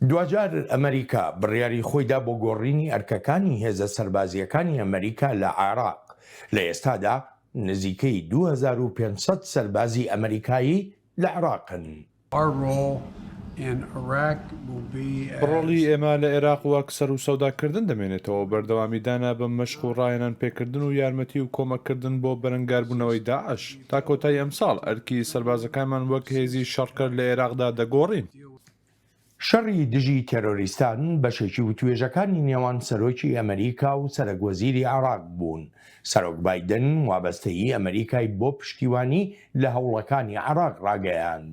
دواجار ئەمریکا بڕیاری خۆیدا بۆ گۆڕینی ئەرکەکانی هێزە سەربازیەکانی ئەمریکا لە عێراق لە ئێستادا نزیکەی 2500 سەربازی ئەمریکایی لە عراقن ڕۆڵی ئێمە لە ئێراق وەک سەروسەوداکردن دەمێنێتەوە، بەردەوامی دانە بە مەشق و ڕاهێنان پێکردن و یارمەتی و کۆمەککردن بۆ بەرەنگاربوونەوەی داعش. تا کۆتایی ئەمساڵ، ئەرکی سەربازەکانمان وەک هێزی شەڕکەر لە ئێراقدا دەگۆڕین. شەڕی دژی تێرۆریستان بەشێکی وتوێژەکانی نێوان سەرۆکی ئەمریکا و سەرەک وەزیری عێراق بوون سەرۆک بایدن وابەستەیی ئەمەریکای بۆ پشتیوانی لە هەوڵەکانی عێراق ڕاگەیاند.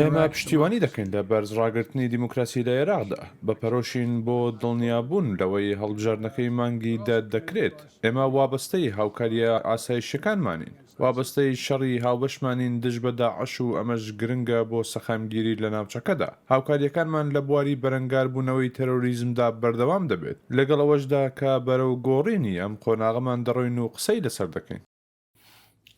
ئێمە پشتیوانی دەکەین لە بەرز ڕاگرتنی دیموکراسی لە عێراقدا، بە پەرۆشین بۆ دڵنیابوون لەوەی هەڵبژاردنەکەی مانگی دە دەکرێت. ئێمە وابەستەی هاوکارییە ئاسایشییەکانمانین. وابەستەی شەڕی هاوبەشمانین دژ بە داعش و ئەمەش گرنگە بۆ سەقامگیری لە ناوچەکەدا. هاوکارییەکانمان لە بواری بەرەنگاربوونەوەی تەرۆریزمدا بەردەوام دەبێت، لەگەڵ ئەوەشدا کە بەرەو گۆڕینی ئەم قۆناغەمان دەڕۆین و قسەی لەسەر دەکەین.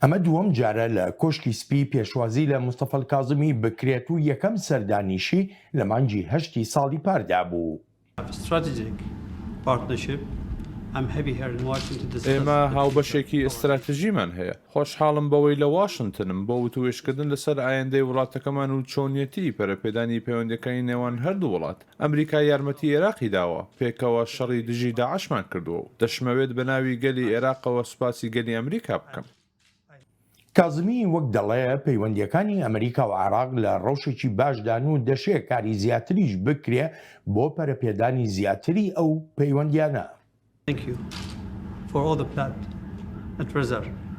ئەمە دووەم جارە لە کۆشکی سپی پێشوازی لە مستەفا الکازمی بکرێت و یەکەم سەردانیشی لە مانگی هەشتی ساڵی پاردا بوو. ئێمە هاوبەشێکی ئیستراتژیمان هەیە. خۆشحاڵم بەوەی لە واشنتنم بۆ وتووێژکردن لەسەر ئایندەی وڵاتەکەمان و چۆنیەتیی پەرەپێدانی پەیوەندییەکانی نێوان هەردوو وڵات. ئەمریکا یارمەتیی ئێراقی داوە، پێکەوە شەڕی دژی داعشمان کردووە و دەشمەوێت بەناوی گەلی ئێراقەوە سوپاسی گەلی ئەمریکا بکەم. کازمی وەک دەڵێ پەیوەندییەکانی ئەمریکا و عێراق لە ڕەوشێکی باشدان و دەشێ کاری زیاتریش بکرێ بۆ پەرەپێدانی زیاتری ئەو پەیوەندیانە.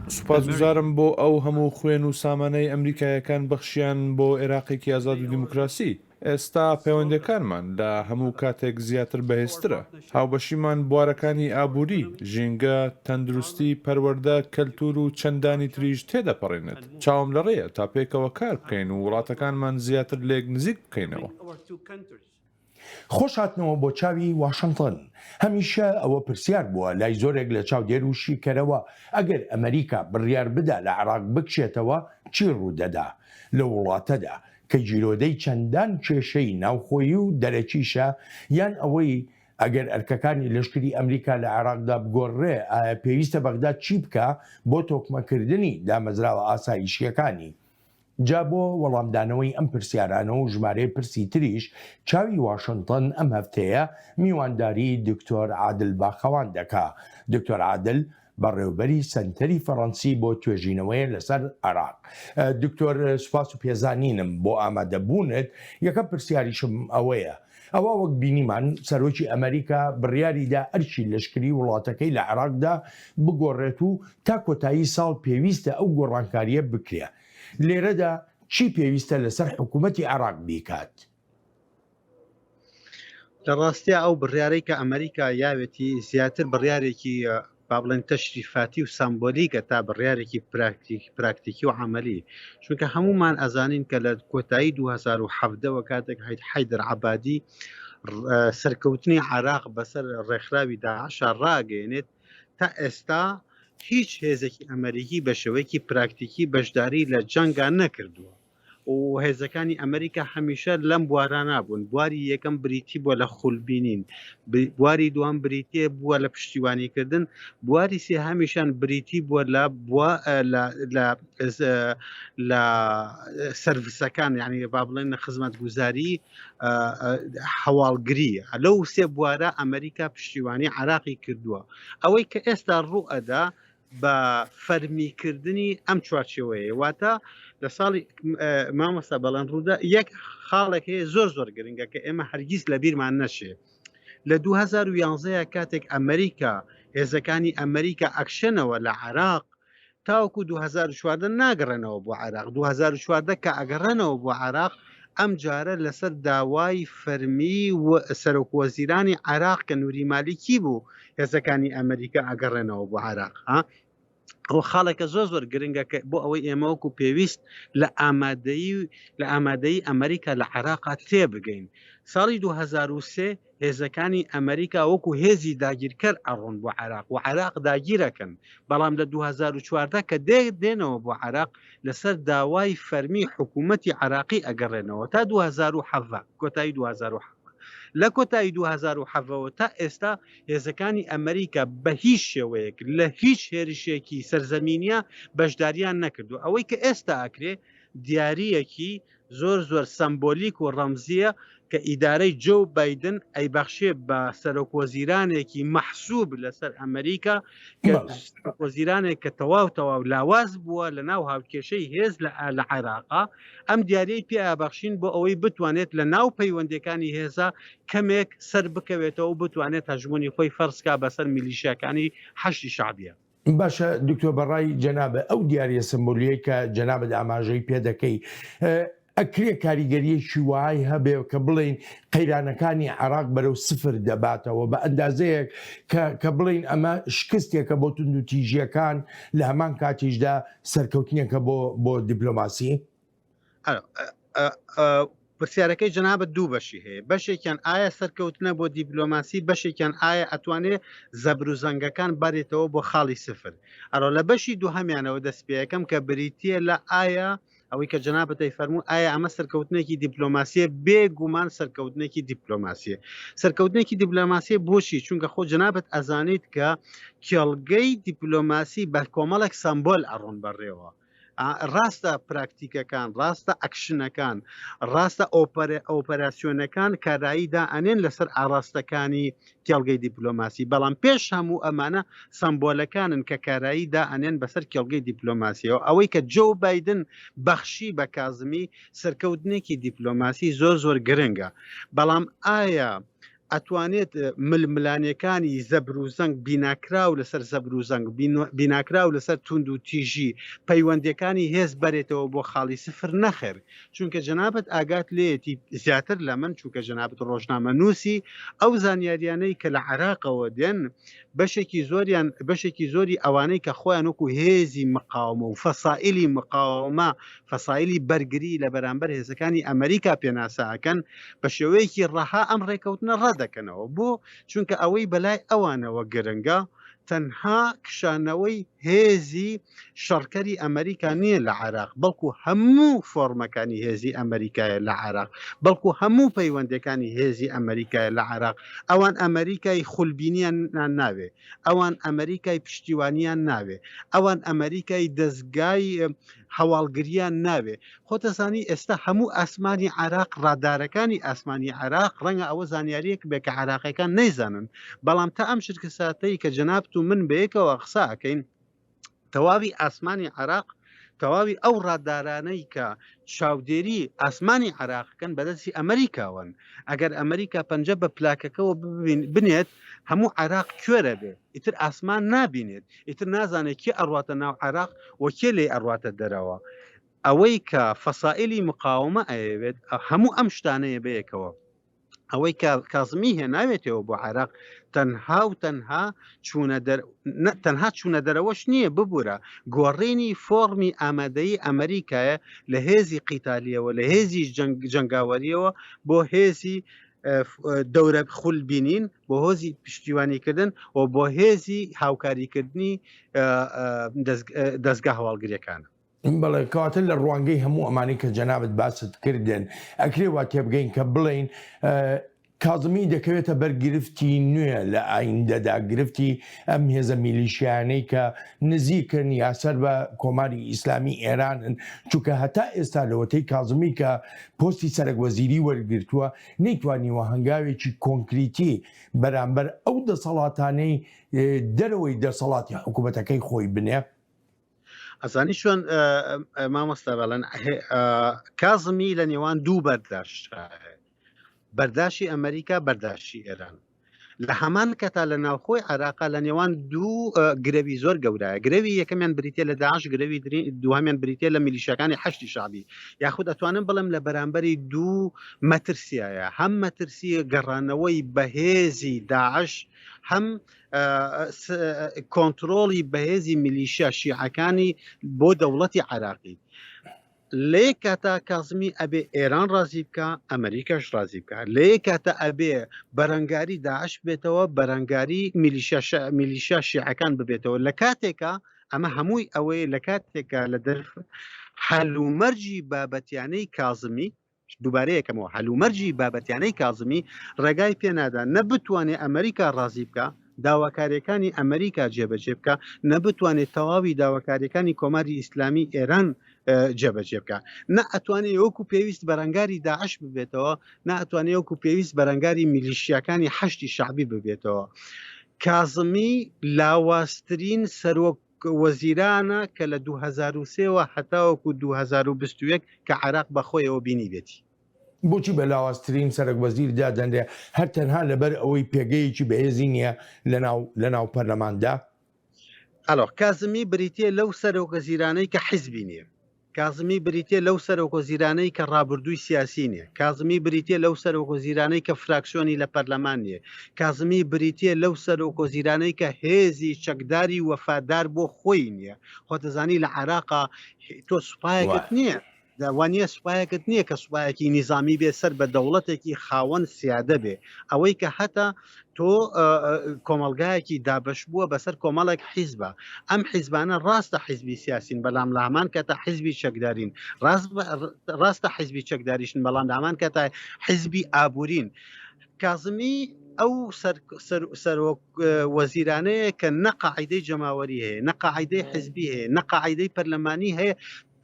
سوپاسگوزارم بۆ ئەو هەموو خوێن و سامانەی ئەمریکاییەکان بەخشیان بۆ عێراقێکی ئازاد و دیموکراسی. ئێستا پەیوەندییەکانمان لە هەموو کاتێک زیاتر بەهێزترە. هاوبەشیمان بوارەکانی ئابووری، ژینگە، تەندروستی، پەروەردە، کەلتوور و چەندانی تریش تێدەپەڕێنێت. چاوم لە ڕێیە تا پێکەوە کار بکەین و وڵاتەکانمان زیاتر لێک نزیک بکەینەوە. خۆشهاتنەوە بۆ چاوی واشنتن. هەمیشە ئەوە پرسیار بووە لای زۆرێک لە چاودێر و شیکەرەوە، ئەگەر ئەمەریکا بڕیار بدا لە عێراق بکشێتەوە، چی ڕوودەدا لەو وڵاتەدا؟ کە گیرۆدەی چەندان کێشەی ناوخۆیی و دەرەکیشە، یان ئەوەی ئەگەر ئەرکەکانی لەشکری ئەمریکا لە عێراقدا بگۆڕرێ، ئایا پێویستە بەغداد چی بکا بۆ تۆکمەکردنی دامەزراوە ئاسایشییەکانی؟ جا بۆ وەڵامدانەوەی ئەم پرسیارانە و ژمارەیە پرسی تریش، چاوی واشنتن ئەم هەفتەیە میوانداریی دکتۆر عادل باخەوان دەکا. دکتۆر عادل بەڕێوبەری سەنتەری فەڕەنسی بۆ توێژینەوەیە لەسەر عراق دکتۆر سوپاس و پێزانینم بۆ ئامادەبوونت یەکە پرسیاریشم ئەوەیە ئەوە وەک بینیمان سەرۆکی ئەمریکا بڕیاریدا ئەرچی لەشکری وڵاتەکەی لە عراقدا بگۆڕێت و تا کۆتایی ساڵ پێویستە ئەو گۆڕانکاریە بکرێ لێرەدا چی پێویستە لەسەر حکوومەتی عراق بیکات؟ لە ڕاستیا ئەو بڕیارەی کە ئەمریکا یاوێتی زیاتر بڕیارێکی با بڵێن تەشریفاتی و سامبۆلیکە تا بڕیارێکی پراکتیکی و عملی چونکە هەمومان ئەزانین کە لە کۆتایی 2010ەوە کاتێک حیت حیدر عبادی سەرکەوتنی عراق بەسەر ڕێکخراوی داعشا ڕاگەێنێت تا ئێستا هیچ هێزێکی ئەمریکی بە شێوەیەکی پراکتیکی بەشداری لە جەنگان نەکردووە و هێزەکانی ئەمریکا هەمیشە لەم بوارانە بوون بواری یەکەم بریتی بووە لە خولبینین بواری دووان بریتێ بووە لە پشتیوانیکردن بواری سێ هەمیشان بریتی بووە لە بووە لە سرفسەکان یعنی با بڵێن لە خزمەت گوزاری هەواڵگری لەو سێ بوارە ئەمریکا پشتیوانی عراقی کردووە ئەوەی کە ئێستا ڕوو ئەدا بە فەرمی کردنی ئەم چوارچێوەیە واتە لە ساڵی مامۆستا بەڵەن ڕوودا یەک خاڵێک هەیە زۆر زۆر گرنگە کە ئێمە هەرگیز لە بیرمان نەشێ لە 2011 کاتێک ئەمریکا هێزەکانی ئەمریکا ئەکشنەوە لە عراق تاوکو 2014 ناگەڕێنەوە بۆ عراق 2014 کە ئەگەڕێنەوە بۆ عراق ئەم جارە لەسەر داوای فەرمی و سەرۆک وەزیرانی عراق کە نووری مالیکی بوو هێزەکانی ئەمریکا ئەگەڕێنەوە بۆ عراق ها ئەو خاڵێکە زۆر زۆر گرنگە کە بۆ ئەوەی ئێمەوەکو پێویست لە ئامادەی لە ئامادەی ئەمریکا لە عێراقا تێ بگەین ساڵی 2023 هێزەکانی ئەمریکا وەکو هێزی داگیرکەر ئەڕۆن بۆ عراق و عراق داگیرەکەن بەڵام لە 2014 کە دێ دێنەوە بۆ عراق لەسەر داوای فەرمی حکوومەتتی عراقی ئەگەڕێنەوە تا 2007 کۆتایی 2007 لە کۆتایی دوو هەزار و حەڤە وە تا ئێستا هێزەکانی ئەمریکا بە هیچ شێوەیەک لە هیچ هێرشێکی سەرزەمینیە بەشداریان نەکردو ئەوەی کە ئێستا ئەکرێ دیاریەکی زۆر زۆر سەمبۆلیک و ڕەمزیە کە ئیدارەی جۆو بایدن ئەیبەخشێ بە سەرۆک وەزیرانێکی مەحسوب لەسەر ئەمریکا وەزیرانێک کە تەواو تەواو لاواز بووە لە ناو هاوکێشەی هێز لە لە عێراقا ئەم دیارەی پیابەخشین بۆ ئەوەی بتوانێت لە ناو پەیوەندەکانی هێزە کەمێک سەر بکەوێتەوە و بتوانێت هەژمونی خۆی فەرسکا بەسەر میلیشیەکانی حەشی شعبە باشە دکتۆر بەڕای جەنابە ئەو دیارە سمبولیە کە جەنابەت ئاماژەی پێ دەکەی ئەکرێ کاریگەرییەکی وەهای هەبێ کە بڵێین قەیرانەکانی عێراق بەرەو سفر دەباتەوە بە ئەندازەیەک کە کە بڵێین ئەمە شکستێکە بۆ توندوتیژییەکان لە هەمان کاتیشدا سەرکەوتنێکە بۆ بۆ دیپلۆماسی؟ پرسیارەکەی جەنابەت دوو بەشی هەیە بەشێکیان ئایا سەرکەوتنە بۆ دیپلۆماسی بەشێکیان ئایا ئەتوانێ زەبر و زەنگەکان بارێتەوە بۆ خاڵی سفر ئەرۆ لە بەشی دوو هەمیانەوە دەستپێەکەم کە بریتە لە ئایا ئەوەی کە جەنابت دەی فەرموو ئایا ئەمە سەرکەوتنێکی دیپلۆماسیە بێ گومان سەرکەوتنێکی دیپلۆماسیە سەرکەوتنێکی دیپلۆماسیە بۆچی چونکە خۆ جەنابەت ئەزانیت کە کێڵگەی دیپلۆماسی بە کۆمەڵێک سمبۆل ئەڕۆن بەڕێوە ڕاستە پراکتیکەکان ڕاستە ئەکشنەکان ڕاستە ئۆپەراسیۆنەکان کارایی دا ئەنێن لەسەر ئاراستەکانی کێڵگەی دیپلۆماسی بەڵام پێش هەموو ئەمانە سمبۆلەکانن کە کارایی دا ئەنێن بەسەر کێڵگەی دیپلۆماسیەوە ئەوەی کە جۆ بادن بەخشی بە کازمی سەرکەوتنێکی دیپلۆماسی زۆر زۆر گرنگە بەڵام ئایا ئەتوانێت ململانەکانی زەبر و زەنگ بیناکراو لەسەر زەبر و زەنگ بیناکراو لەسەر توند و تیژی پەیوەندەکانی هێز بەرێتەوە بۆ خاڵی سفر نەخێر چونکە جەنابت ئاگات لێیەتی زیاتر لە من چونکە جەنابت ڕۆژنامە نووسی ئەو زانیاریانەی کە لە عراقەوە دێن بەشێکی زۆریان بەشێکی زۆری ئەوانەی کە خۆیان وەکو هێزی مقاومە و فەسائلی مقاومە فەسایلی بەرگری لە بەرامبەر هێزەکانی ئەمریکا پێناساکەن بە شێوەیەکی ڕەها ئەم ڕێکەوتنە ڕەدەکەنەوە بۆ چونکە ئەوەی بەلای ئەوانەوە گرنگە تەنها کشانەوەی هێزی شەڕکەری ئەمریکا نییە لە عێراق بەڵکو هەموو فۆرمەکانی هێزی ئەمریکایە لە عێراق بەڵکو هەموو پەیوەندەکانی هێزی ئەمریکایە لە عێراق ئەوان ئەمریکای خولبینیان ناوێ ئەوان ئەمریکای پشتیوانیان ناوێ ئەوان ئەمریکای دەستگای هەواڵگریان ناوێ خۆتەزانی ئێستا هەموو ئاسمانی عراق ڕادارەکانی ئاسمانی عراق ڕەنگە ئەوە زانیاریەک بێ کە عراقەکان نەیزانن بەڵام تا ئەم شرکە ساتەی کە جەنابت و من بەیەکەوە قساکەین تەواوی ئاسمانی عێراق تەواوی ئەو ڕادارانەی کە چاودێری ئاسمانی عراقکەن بەدەستی ئەمریکاوەن ئەگەر ئەمریکا پەنجە بە پلاکەکەەوە بنێت هەموو عراق کوێرە بێ ئیتر ئاسمان نابینێت ئیتر نازانێت کێ ئەڕاتە ناو عراق وەکێ لێ ئەڕاتە دەرەوە ئەوەی کە فەسائلی مقاومە ئەیەوێت هەموو ئەم شتانەیە بەیەکەوە ئەوەی کە کازمی هێ ناوێتەوە بۆ عێراق تەنها و تەنها چوونە تەنها چوونە دەرەوەش نییە ببوورە گۆڕینی فۆرمی ئامادەی ئەمریکایە لە هێزی قیتالیەوە لە هێزی جنگاوەریەوە بۆ هێزی دەورە خول بینین بۆ هۆزی پشتیوانیکردن و بۆ هێزی هاوکاریکردنی دەستگا هەواڵگرەکانە بەڵێ کەواتە لە ڕوانگەی هەموو ئەمانەی کە جەنابت باست کردن ئەکرێ وا تێبگەین کە بڵین کازمی دەکەوێتە بەر گرفتی نوێ لە ئایندەدا گرفتی ئەم هێزە میلیشیانەی کە نزیکن یا سەر بە کۆماری ئیسلامی ئێرانن چونکە هەتا ئێستا لەوەتەی کازمی کە پۆستی سەرک وەزیری وەرگرتووە نەیتوانیوە هەنگاوێکی کۆنکریتی بەرامبەر ئەو دەسەڵاتانەی دەرەوەی دەسەڵاتی حکوومەتەکەی خۆی بنێ ئەزانی چۆن مامۆستا بەڵەن کازمی لە نێوان دوو بەرداشت بەرداشی ئەمریکا بەرداشی ئێران لە هەمان کە تا لە ناوخۆی عراقا لە نێوان دوو گرەوی زۆر گەورایە گرەوی یەکەمیان بریتە لە داعش گرەوی دوهامیان بریتە لە میلیشەکانی حشتی شعبی یاخود ئەتوانم بڵم لە بەرامبەری دوو مەترسیایە هەم مەترسی گەڕانەوەی بەهێزی داعش هەم کۆنتترۆڵی بەهێزی ملیشیا شیعەکانی بۆ دەوڵەتی عراقی لێ کاتا کازمی ئەبێ ئێران ڕازی بکە ئەمریکاش ڕازی بکە لێ کاتە ئەبێ بەرەنگاری داعش بێتەوە بەرەنگاری میلیشا شیعەکان ببێتەوە لە کاتێکە ئەمە هەمووی ئەوەیە لە کاتێکە لە دەرف هەلومەرجی بابەتیانەی کازمی دووبارە یەکەمەوە هەلومەرجی بابەتیانەی کازمی ڕێگای پێ نادا نە بتوانێ ئەمریکا ڕازی بکا داواکاریەکانی ئەمریکا جێبەجێ بکا نە بتوانێ تەواوی داواکاریەکانی کۆماری ئیسلامی ئێران جێبەجێ بکا نە ئەتوانێ یۆکو پێویست بەرەنگاری داعش ببێتەوە نە ئەتوانێ یۆکو پێویست بەرەنگاری میلیشیاکانی حەشتی شعبی ببێتەوە کازمی لاوازترین سەرۆک وەزیرانە کە لە دوو هەزار و سێ وە هەتاوەکو دوو هەزار و بیست و یەک کە عێراق بە خۆیەوە بینیبێتی. بۆچی بە لاوازترین سەرەک وەزیر دادەنرێ هەر تەنها لە بەر ئەوەی پێگەیەکی بەهێزی نیە لە ناو لە ناو پەرلەماندا؟ ئەلۆ کازمی بریتیە لەو سەرۆکەزیرانەی کە حیزبی نیە. کازمی بریتیە لەو سەرۆک وەزیرانەی کە ڕابردووی سیاسی نیە، کازمی بریتیە لەو سەرۆک وەزیرانەی کە فراکسیۆنی لە پەرلەمان نیە، کازمی بریتیە لەو سەرۆک وەزیرانەی کە هێزی چەکداری وەفادار بۆ خۆی نیە، خۆت دەزانی لە عێراقا تۆ سوپایەکت نیە، وانیە سوپایەکت نیە کە سوپایەکی نیزامی بێ سەر بە دەوڵەتێکی خاوەن سیادە بێ، ئەوەی کە هەتە تۆ کۆمەڵگایەکی دابەش بووە بەسەر کۆمەڵێک حیزبە ئەم حیزبانە ڕاستە حیزبی سیاسین بەلام لە هەمان کە تا حیزبی چەکدارین ڕاستە حیزبی چەکداریشن بەڵام لە هەمان کە تا حیزبی ئابورین کازمی ئەو سەرۆک وەزیرانەیە کە نەقاعدەی جەماوەری هەیە نەقاعدەی حزبی هەیە نەقاعدەی پەرلەمانی هەیە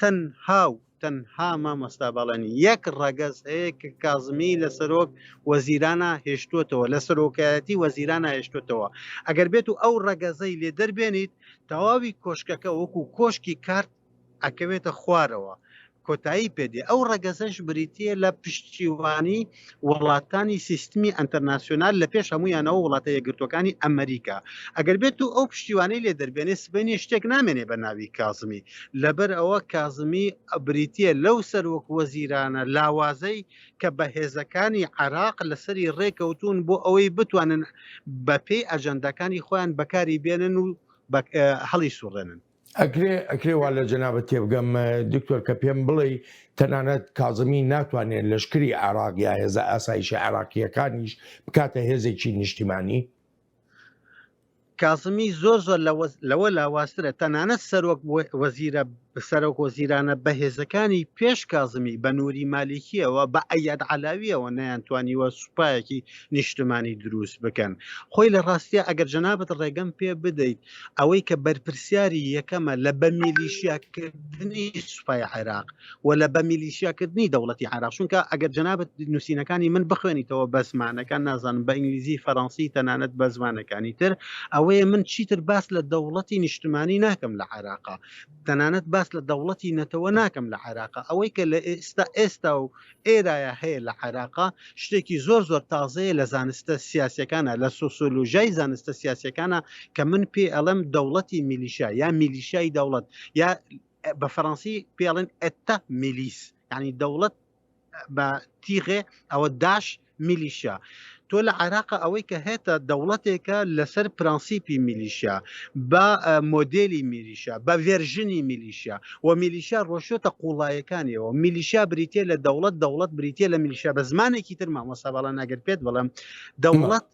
تەنها و تەنها مامۆستا بەڵێن یەک ڕەگەز هەیە کە کازمی لە سەرۆک وەزیرانە هێشتوتەوە لە سەرۆکایەتی وەزیرانە هێشتوتەوە ئەگەر بێت و ئەو ڕەگەزەی لێ دەربێنیت تەواوی کۆشکەکە وەکو کۆشکی کارت ئەکەوێتە خوارەوە کۆتایی پێدێ ئەو ڕەگەزەش بریتە لە پشتیوانی وڵاتانی سیستمی ئەنتەرناسیۆنال لە پێش هەموویانەوە وڵاتە یەکگرتووەکانی ئەمریکا ئەگەر بێت و ئەو پشتیوانەی لێ دەربێنێ سبەینێ شتێک نامێنێ بە ناوی کازمی لەبەر ئەوە کازمی ئەبریتە لەو سەرۆک وەزیرانە لاوازەی کە بە هێزەکانی عراق لەسەری ڕێکەوتون بۆ ئەوەی بتوانن بەپێی ئەجەندەکانی خۆیان بەکاری بێنن و هەڵی سوڕێنن ئەکرێ ئەکرێ وا لە جەنابت تێبگەم دکتۆر کە پێم بڵێی تەنانەت کازمی ناتوانێت لەشکری عراق یا هێزە ئاسایشە عراقیەکانیش بکاتە هێزێکی نیشتیمانی کازمی زۆر زۆر لەوە لاوازترە تەنانەت سەرۆک وەزیرە سەرۆک وەزیرانە بەهێزەکانی پێش کازمی بە نووری مالیکیەوە بە ئەیاد علاویەوە نەیانتوانیوە سوپایەکی نیشتمانی دروست بکەن خۆی لە ڕاستە ئەگەر جەنابەت ڕێگەم پێ بدەیت ئەوەی کە بەرپرسیاری یەکەمە لە بە میلیشیاکردنی سوپای عێراق و لە بە میلیشیاکردنی دەوڵەتی عراق چونکە ئەگەر جنابەت نووسینەکانی من بخوێنیتەوە بە زمانەکان نازانم بە ئینگلیزی فەرەنسی تەنانەت بە زمانەکانی تر ئەوەیە من چیتر باس لە دەوڵەتی نیشتمانی ناکەم لە عراقا تەنانەت باس لە دەوڵەتی نەتەوە ناکەم لە عراقا ئەوەی کە لە ئێستا ئێستا و ئێرایا هەیە لە عێراقا شتێکی زۆر زۆر تازەیە لە زانستە سیاسیەکانا لە سۆسۆلۆژیای زانستە سیاسیەکانا کە من پێی ئەڵێم دەوڵەتی میلیشا یا میلیشای دەوڵەت یا بە فەرەنسی پێڵێن ئەتە میلیس ینی دەوڵەت بە تیغێ ئەوە داش میلیشیا تۆ لە عێراقا ئەوەی کە هێتە دەوڵەتێکە لەسەر پرەنسیپی میلیشیا بە مۆدێلی میلیشیا بە ڤێرژنی میلیشیا و میلیشیا ڕۆشتە قوڵایەکانیەوە میلیشیا بریتە لە دەوڵەت دەوڵەت بریتە لە میلیشیا بە زمانێکی تر مامۆسا باڵا ناگەر پێت بڵم دەوڵەت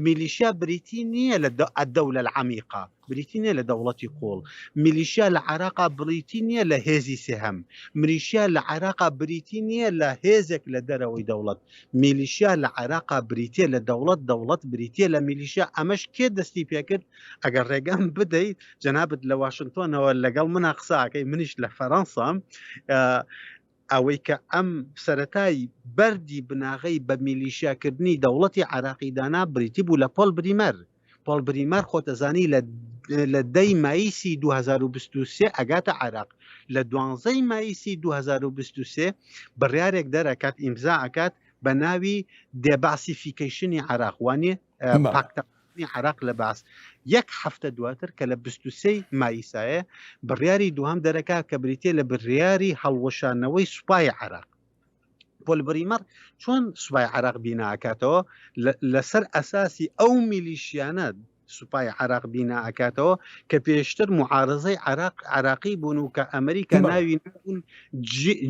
میلیشیا بریتی نییە لە الدولە العمیقە، بریتی نییە لە دەوڵەتی قووڵ، میلیشیا لە عێراقا بریتی نییە لە هێزی سێهەم، ملیشیا لە عێراقا بریتی نییە لە هێزێک لە دەرەوەی دەوڵەت، میلیشیا لە عێراقا بریتییە لە دەوڵەت، دەوڵەت بریتییە لە میلیشیا، ئەمەش کێ دەستی پێکرد؟ ئەگەر ڕێگەم بدەیت جەنابت لە واشنتۆنەوە لەگەڵ منا قسە ئەکەی، منیش لە فەرەنسام، ئەوەی کە ئەم سەرەتای بەردی بناغەی بە میلیشیاکردنی دەوڵەتی عێراقی دانا بریتی بوو لە پۆل بریمەر. پۆل بریمەر خۆتەزانی لە لە دە ی مایسی دوو هەزار و بیست و سێ ئەگاتە عێراق، لە دوانزە ی مایسی دوو هەزار و بیست و سێ بڕیارێک دەرئەکات ئیمزا ئەکات بە ناوی دێباسیفیکەیشنی عێراق وانیە؟ پاکتاکردنی عراق لە بەعس یەک هەفتە دواتر کە لە بستوسەی مایسایە بڕیاری دوام دەرەکە کە بریتە لە بڕیاری هەڵوەشانەوەی سوپای عراق پۆل بریمەر چۆن سوپای عراق بیناکاتەوە لەسەر ئەساسی ئەو میلیشیانە سوپای عراق بینا ئەکاتەوە کە پێشتر معارزەی عراق عراقی بوون و کە ئەمریکا ناوی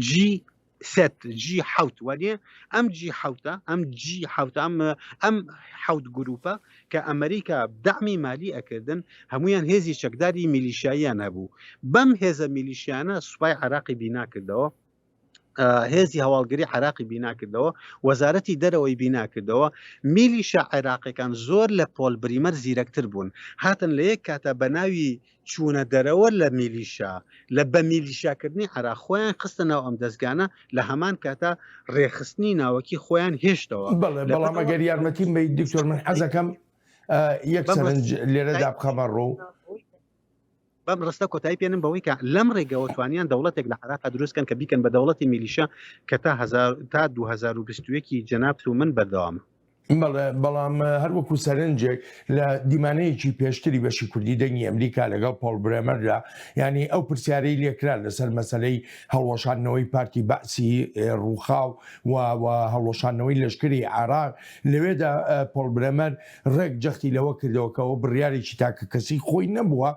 جی سێت جی حوت وەێ ئەم جی حوتە ئەم جی حوتە ئەم ئەم حوت گروپە کە ئەمریکا دامی مالی ئەکردن هەمویان هێزی چەکداری میلیشاییان هەبوو بەم هێزە میلیشیانە سوپای عراقی بیناکردەوە هێزی هەواڵگری عراقی بیناکردەوە وەزارەتی دەرەوەی بیناکردەوە میلیشە عێراقەکان زۆر لە پۆل بریمەر زیرەکتر بوون هاتن لە یەک کاتە بە ناوی چوونە دەرەوە لە میلیشا لە بە میلیشا کردنی عێراق خۆیان خستە ناو ئەم دەزگانە لە هەمان کاتا ڕێکخستنی ناوەکی خۆیان هێشتەوە. بەڵێ بەڵام ئەگەر یارمەتیم بەیت دکتۆر من حەزەکەم یەک سەرنج لێرەدا بخەمە ڕوو. بەم ڕستە کۆتایی پێنم بەوەی کە لەم ڕێگەوە توانیان دەوڵەتێک لە عراق دروستکەن کە بیکەن بە دەوڵەتی میلیشە کە تا تا 2021 جەنابت و من بەردەوامە بەڵام هەر وەکو سەرنجێک لە دیمانەیەکی پێشتری بەشی کوردی دەنگی ئەمریکا لەگەڵ پۆڵ برێمەردا ینی ئەو پرسیارەی لێکرا لەسەر مەسلەی هەڵوەشاندنەوەی پارتی بەسی ڕووخاو و هەڵوەشاندنەوەی لەشکری عراق لەوێدا پۆڵ برێمەر ڕێک جەختی لەوە کردەوەکەەوە بڕیارێکی تاکە کەسی خۆی نەبووە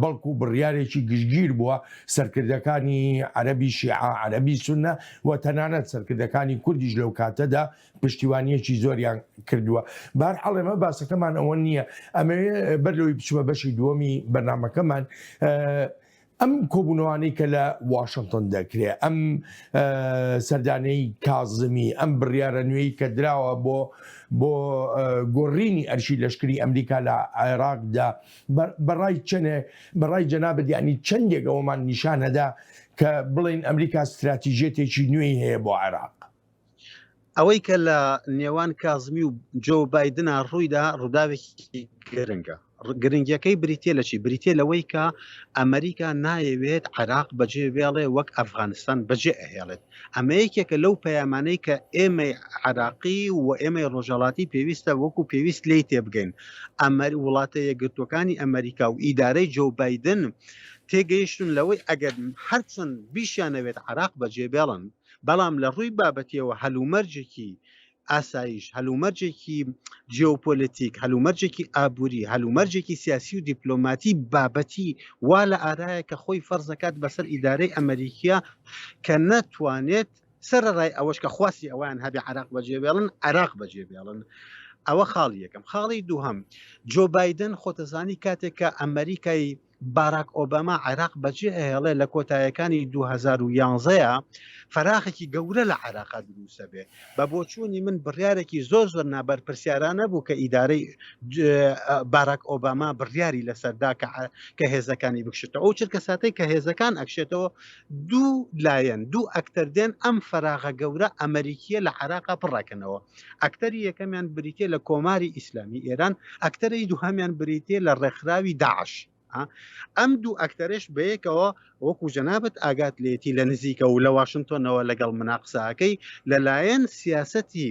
بەڵکو بڕیارێکی گشتگیر بووە سەرکردەکانی عەربی شیعە عەربی سونە و تەنانەت سەرکردەکانی کوردیش لەو کاتەدا پشتیوانیەکی زۆریان کردووە بار حەڵێمە باسەکەمان ئەوە نییە ئەمێ بەر لەوەی بچمە بەشی دووەمی بەرنمەکەمان ئەم کۆبوونەوانی کە لە واشنگتن دەکرێ ئەم سەردانەی کازمی ئەم بڕیاە نوێی کە دراوە بۆ بۆ گۆڕینی ئەرشی لەشکری ئەمریکا لە عێراقدا بەڕای چەنێ بەڕای جەنابدیانی چەندێک ئەومان نیشانەدا کە بڵین ئەمریکا استراتیژێتێکی نوێی هەیە بۆ عێراق. ئەوەی کە لە نێوان کازمی و جۆ بادنە ڕوویدا ڕووداوێکی گرنگە گرنگیەکەی بریتە لە چی بریتە لەوەی کە ئەمریکا نایەوێت عراق بەجێ وێڵێ وەک ئەفغانستان بەجێ ئەهێڵێت ئەمە یەکێکە لەو پەیامانەی کە ئێمەی عراقی و ئێمەی ڕۆژەڵاتی پێویستە وەکو پێویست لی تێبگەین ئەمەر وڵاتە یەکگرتوەکانی ئەمریکا و ئیدارەی جۆ بادن تێگەیشتون لەوەی ئەگەر هەرچەند بیشیانەوێت عراق بەجێ بێڵن بەڵام لە ڕووی بابەتیەوە هەلومەرجێکی ئاسایش هەلومەرجێکی جیۆپۆلتیک هەلومەرجێکی ئابووری هەلومەرجێکی سیاسی و دیپلۆماتی بابەتی وا لە ئارایە کە خۆی فەرزەکات بەسەر ئیدارەی ئەمریکیە کە نەتوانێت سەرڕای ئەوەش کە خواستی ئەوان هەبێ عراق بەجێبێڵن عراق بەجێبێڵن ئەوە خاڵی یەکەم خاڵی دووهم جۆ بادن خۆتەزانی کاتێک کە ئەمریکای باراک ئۆباما عێراق بەجێ ئەهێڵێ لە کۆتایەکانی 2011 ەیە فەراخێکی گەورە لە عێراقا دروسە بێ بە بۆچوونی من بڕارێکی زۆر زۆر نابەرپرسیارانە بوو کە ئیدارەی باراک ئۆباما بڕیاری لەسەردا کە هێزەکانی بکشێتە ئەو چرکە ساتەی کە هێزەکان ئەکشێتەوە دوو لایەن دوو ئەکتەر دێن ئەم فەراغە گەورە ئەمریکیە لە عێراقا پڕەکەنەوە ئەکتەری یەکەمیان بریتیە لە کۆماری ئیسلامی ئێران ئەکتەرەی دوهامیان بریتێ لە ڕێکخراوی داعش ئەم دوو ئەکتەرش بەیەکەوە وەکو جەنابەت ئاگات لێتی لە نزیکە و لە واشنگتۆنەوە لەگەڵ مناقساکەی لەلایەن سیاسەتی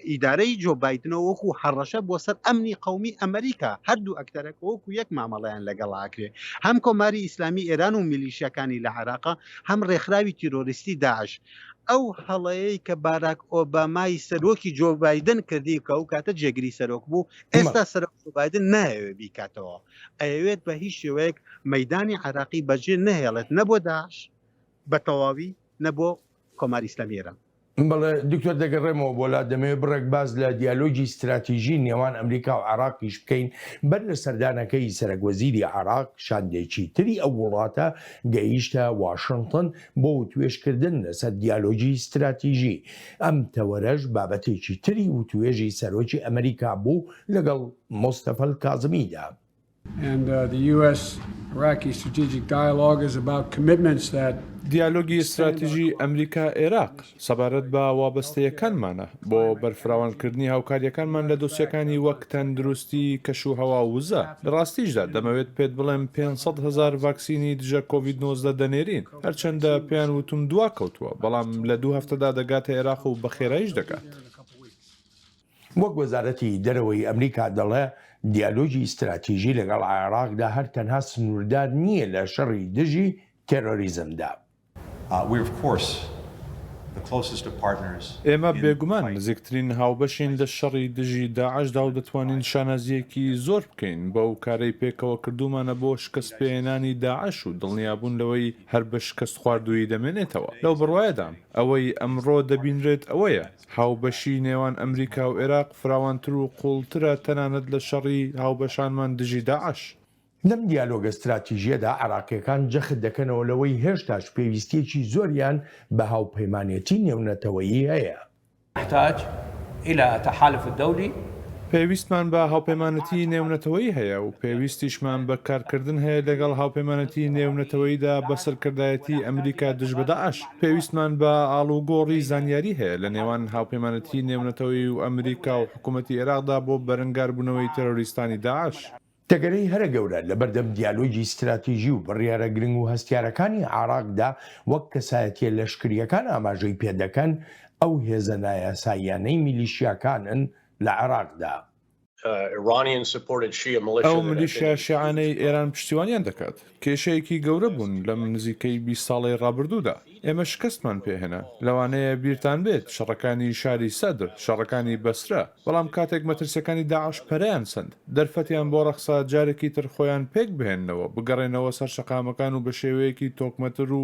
ئیدارەی جۆ بادنەوە وەکو هەڕەشە بۆ سەر ئەمنی قومی ئەمریکا هەردوو ئەکتەرەکە وەکو یەک مامەڵیان لەگەڵاکرێ هەم کۆماری ئیسلامی ئێران و میلیشەکانی لە عراقا هەم ڕێکخراوی تیرۆریستی داعش ئەو هەڵەیەی کە باراک ئۆبامای سەرۆکی جۆ بادن کردی کە ئەو کاتە جێگری سەرۆک بوو ئێستا سەرۆک بادن نایەوێ بیکاتەوە ئەوێت بە هیچ شێوەیەک مەدانی عراقی بەجێ نەهێڵێت نەبوو داعش بە تەواوی نەبوو کۆماری ئیسلامی ئێران بەڵێ دکتۆر دەگەڕێمەوە بۆ لا دەمەوێت بڕێک باس لە دیالۆگی ستراتیژی نێوان ئەمریکا و عێراقیش بکەین بەر لە سەردانەکەی سەرەک وەزیری عێراق شاندێکی تری ئەو وڵاتە گەیشتە واشنتن بۆ وتوێشکردن لەسەر دیالۆگی ستراتیژی ئەم تەوەرەش بابەتێکی تری وتوێژی سەرۆکی ئەمریکا بوو لەگەڵ مستەفەل کازمیدا دیالۆگی ستراتیژی ئەمریکا عێراق سەبارەت بە وابەستەیەکانمانە بۆ بەرفراوانکردنی هاوکارییەکانمان لە دۆسیەکانی وەک تەندروستی، کەشوهەوا و وزە. لە ڕاستیشدا دەمەوێت پێت بڵێم پێنج سەد هەزار ڤاکسینی دژە کۆڤید نۆزدە دەنێرین، هەرچەندە پێیان وتوم دواکەوتووە، بەڵام لە دوو هەفتەدا دەگاتە عێراق و بەخێراییش دەگات. وەک وەزارەتی دەرەوەی ئەمریکا دەڵێ، دیالۆگی ستراتیژی لەگەڵ عێراقدا هەر تەنها سنووردار نییە لە شەڕی دژی تێرۆریزمدا. ئێمە بێگومان نزیکترین هاوبەشین لە شەڕی دژی داعشدا و دەتوانین شانازییەکی زۆر بکەین بەو کارەی پێکەوە کردوومانە بۆ شکستپێهێنانی داعش و دڵنیابوون لەوەی هەر بە شکستخواردوویی دەمێنێتەوە. لەو بڕوایەدام ئەوەی ئەمڕۆ دەبینرێت ئەوەیە، هاوبەشی نێوان ئەمریکا و عێراق فراوانتر و قووڵترە تەنانەت لە شەڕی هاوبەشانمان دژی داعش. لەم دیالۆگە ستراتیژییەدا عێراقییەکان جەخت دەکەنەوە لەوەی هێشتاش پێویستییەکی زۆریان بە هاوپەیمانێتی نێونەتەوەیی هەیە. نحتاج الى تحالف دولي. پێویستمان بە هاوپەیمانێتی نێونەتەوەیی هەیە و پێویستیشمان بە کارکردن هەیە لەگەڵ هاوپەیمانێتی نێونەتەوەییدا بە سەرکردایەتی ئەمریکا دژ بە داعش. پێویستمان بە ئاڵوگۆڕی زانیاری هەیە لە نێوان هاوپەیمانێتی نێونەتەوەیی و ئەمریکا و حکوومەتی ئێراقدا بۆ بەرەنگاربوونەوەی تێرۆریستانی داعش. تەگەرەی هەرە گەورە لە بەردەم دیالۆگی ستراتیژی و بڕیارە گرنگ و هەستیارەکانی عێراقدا وەک کەسایەتییە لەشکرییەکان ئاماژەی پێ دەکەن، ئەو هێزە نایاساییانەی میلیشیاکانن لە عێراقدا. ئەو ملیشیا شیعانەی ئێران پشتیوانیان دەکات، کێشەیەکی گەورە بوون لەم نزیکەی بیست ساڵەی ڕابردوودا، ئێمە شکستمان پێهێنا، لەوانەیە بیرتان بێت شەڕەکانی شاری سەدر، شەڕەکانی بەسرە، بەڵام کاتێک مەترسیەکانی داعش پەرەیان سەند، دەرفەتیان بۆ ڕەخسا جارێکی تر خۆیان پێکبهێننەوە، بگەڕێنەوە سەر شەقامەکان و بەشێوەیەکی تۆکمەتر و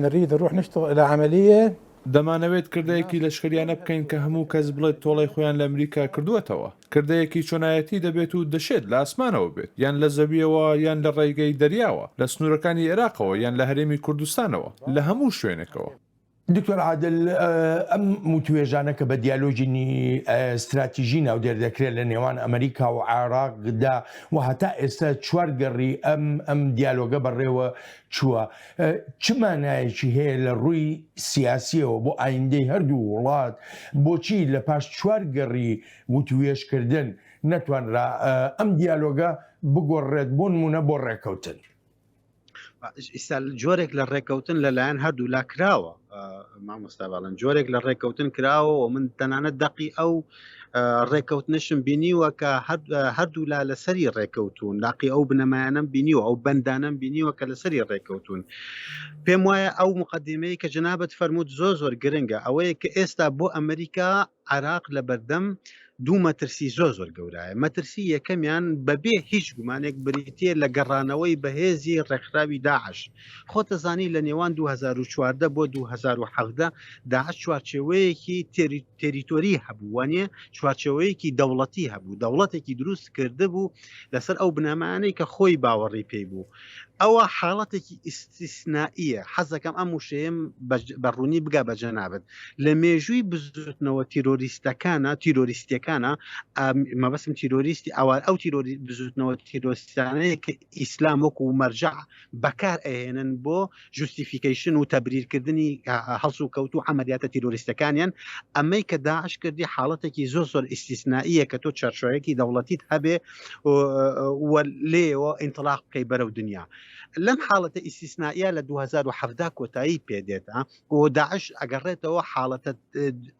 نريد نروح نشتغل الى عمليه. دەمانەوێت کردەیەکی لەشکریانە بکەین کە هەموو کەس بڵێت تۆڵەی خۆیان لە ئەمریکا کردووەتەوە. کردەیەکی چۆنایەتی دەبێت و دەشێت لە ئاسمانەوە بێت، یان لە زەوییەوە، یان لە ڕێگەی دەریاوە، لە سنوورەکانی ئێراقەوە، یان لە هەرێمی کوردستانەوە، لە هەموو شوێنێکەوە. دکتۆر عادل، ئەم وتووێژانە کە بە دیالۆگی ستراتیژی ناودێر دەکرێت لە نێوان ئەمریکا و عێراقدا و هەتا ئێستا چوار گەڕی ئەم ئەم دیالۆگە بەڕێوە چووە، چ مانایەکی هەیە لە ڕووی سیاسیەوە بۆ ئایندەی هەردوو وڵات بۆچی لە پاش چوار گەڕی وتوێشکردن نەتوانرا ئەم دیالۆگە بگۆڕێت بۆ نمونە بۆ ڕێکەوتن ئیستا جۆرێک لە ڕێکەوتن لەلایەن هەردوو لا کراوە مامۆستا باڵن جۆرێک لە ڕێکەوتن کراوە و من تەنانەت دەقی ئەو ڕێککەوتنشم بینیوە کە هەردوولا لەسەری ڕێککەوتون لاقی ئەو بنەمایانم بینیوە ئەو بەندانم بینیوە کە لەسەری ڕێککەوتون پێم وایە ئەو مقدمەیە کە جنابەت فەرمووت زۆ زۆر گرنگە ئەوەیە کە ئێستا بۆ ئەمریکا عراق لە بەردەم دوو مەترسی زۆ زۆر گەورایە مەترسی یەکەمیان بەبێ هیچ گومانێک بریتە لە گەڕانەوەی بەهێزی ڕێکخراوی داعش خۆتەزانی لە نێوان 2014 بۆ 2017 داعش چوارچێوەیەکی تێری تێریتۆری هەبوو وانە چوارچەوەیەکی دەوڵەتی هەبوو دەوڵەتێکی دروست کرد بوو لەسەر ئەو بنەمانەی کە خۆی باوەڕی پێی بوو ئەوە حاڵەتێکی ئیسیسنائیە حەزەکەم ئەم وشەیەم بەڕوونی بگا بەجە نابێت لە مێژووی بزوتنەوە تیرۆریستەکانە تیرۆریستەکانە مەبەسم تیرۆریستی ئەوان ئەو تیرۆری بزوتنەوە تیرۆستانەیە کە ئیسلام وەکو مەرجەع بەکار ئەهێنن بۆ جوستیفیکەیشن و تەبریرکردنی هەڵسوکەوت و عەمەلیاتە تیرۆریستەکانیان ئەمەی کە داعش کردی حاڵەتێکی زۆر زۆر ئیسیسناییە کە تۆ چەرچۆیەکی دەوڵەتیت هەبێ لێەوە ئینتلاق بکەی بەرەو دنیا لەم حاڵەتە ئیسیسناییە لە 2017 کۆتایی پێدێتە و داعش ئەگەڕێتەوە حاڵەتە